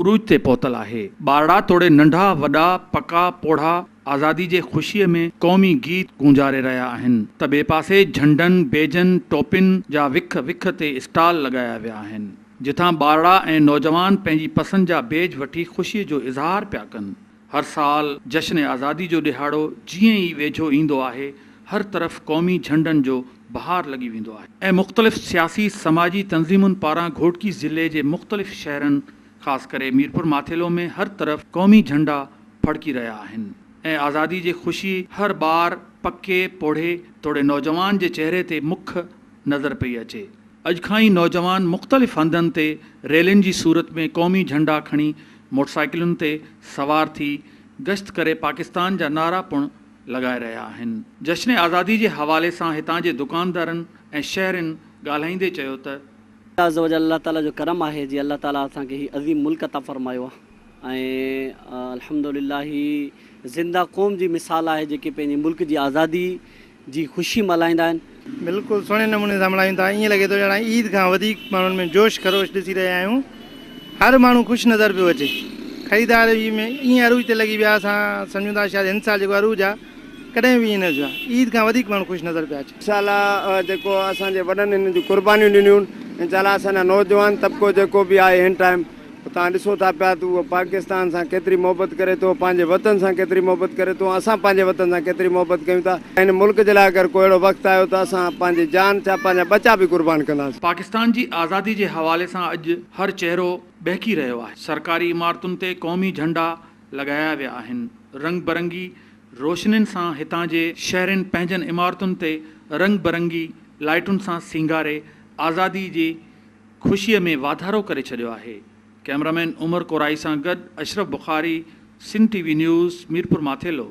عروج تي پهتل آهي. ٻارڙا توڙي ننڍا وڏا پڪا پوڙها آزادي جي خوشيء ۾ قومي گيت گونجاري رهيا آهن ته ٻئي پاسي جهنڊن، بيجن، ٽوپين جا وک وک تي اسٽال لڳايا ويا آهن جتان ٻارڙا ۽ نوجوان پنهنجي پسند جا بيج وٺي خوشيء جو اظهار پيا ڪن. هر سال جشن آزادي جو ڏهاڙو جيئن ئي ويجهو ايندو آهي، هر طرف قومي جهنڊن جو بهار لڳي ويندو آهي ۽ مختلف سياسي سماجي تنظيمن پاران گهوٽڪي ضلعي جي مختلف شهرن خاص ڪري ميرپور ماٿيلو ۾ هر طرف قومي جهنڊا ڦڙڪي رهيا آهن ۽ آزادي جي خوشي هر ٻار، پڪي، پوڙهي توڙي نوجوان جي چهري تي مک نظر پئي اچي. اڄ کان ئي نوجوان مختلف هنڌن تي ريلين جي صورت ۾ قومي جهنڊا کڻي موٽرسائيڪلن تي سوار ٿي گشت ڪري پاڪستان جا نعرا پڻ لڳائي رهيا آهن. جشن آزادي جي حوالي سان هتان جي دڪاندارن ۽ شهرين ڳالهائيندي چيو ته. الله عزّ وجلّ الله تعالٰي جو ڪرم آهي جي الله تعالٰي اسان کي هي عظيم ملڪ عطا فرمايو آهي ۽ الحمد لله هي زنده قوم جي مثال آهي جيڪي پنهنجي ملڪ جي آزادي جي خوشي ملهائيندا آهن. بلڪل سهڻي نموني سان ملهايون ٿا ائين لڳي ٿو ڄڻ عيد کان وڌيڪ ماڻهن ۾ جوش خروش ڏسي رهيا آهيون هر ماڻهو خوش نظر پيو اچي خريدار به ائين عروج تي لڳي ويا اسان سمجهون ٿا شايد هن سال جيڪو عروج آ ڪڏهن به ائين نه ٿيو آ عيد کان وڌيڪ ماڻهو خوش نظر پيا اچن. انشاءالله جيڪو اسان جي وڏن هنن جون قربانيون ڏنيون انشاءالله اسان جا نوجوان طبقو جيڪو به آهي هن ٽائيم. توهان ڏسو ٿا پيا ته هو پاڪستان سان ڪيتري محبت ڪري ٿو، پنهنجي وطن سان ڪيتري محبت ڪري ٿو ۽ اسان پنهنجي وطن سان ڪيتري محبت ڪيون ٿا. هن ملڪ جي لاء اگر ڪو اهڙو وقت آيو ته اسان پنهنجي جان ڇا پنهنجا ٻچا به قربان ڪنداسين. پاڪستان جي آزادي جي حوالي سان اڄ هر چهرو ٻهڪي رهيو آهي. سرڪاري عمارتن تي قومي جهنڊا لڳايا ويا آهن. رنگ برنگي روشنين سان هتان جي شهرين پنهنجن عمارتن تي رنگ برنگي لائيٽن سان سينگاري آزادي جي خوشيء ۾ واڌارو ڪري ڇڏيو آهي. ڪئميرامين عمر ڪورائي سان گڏ Ashraf Bukhari, Sindh T V news, Mirpur Mathelo.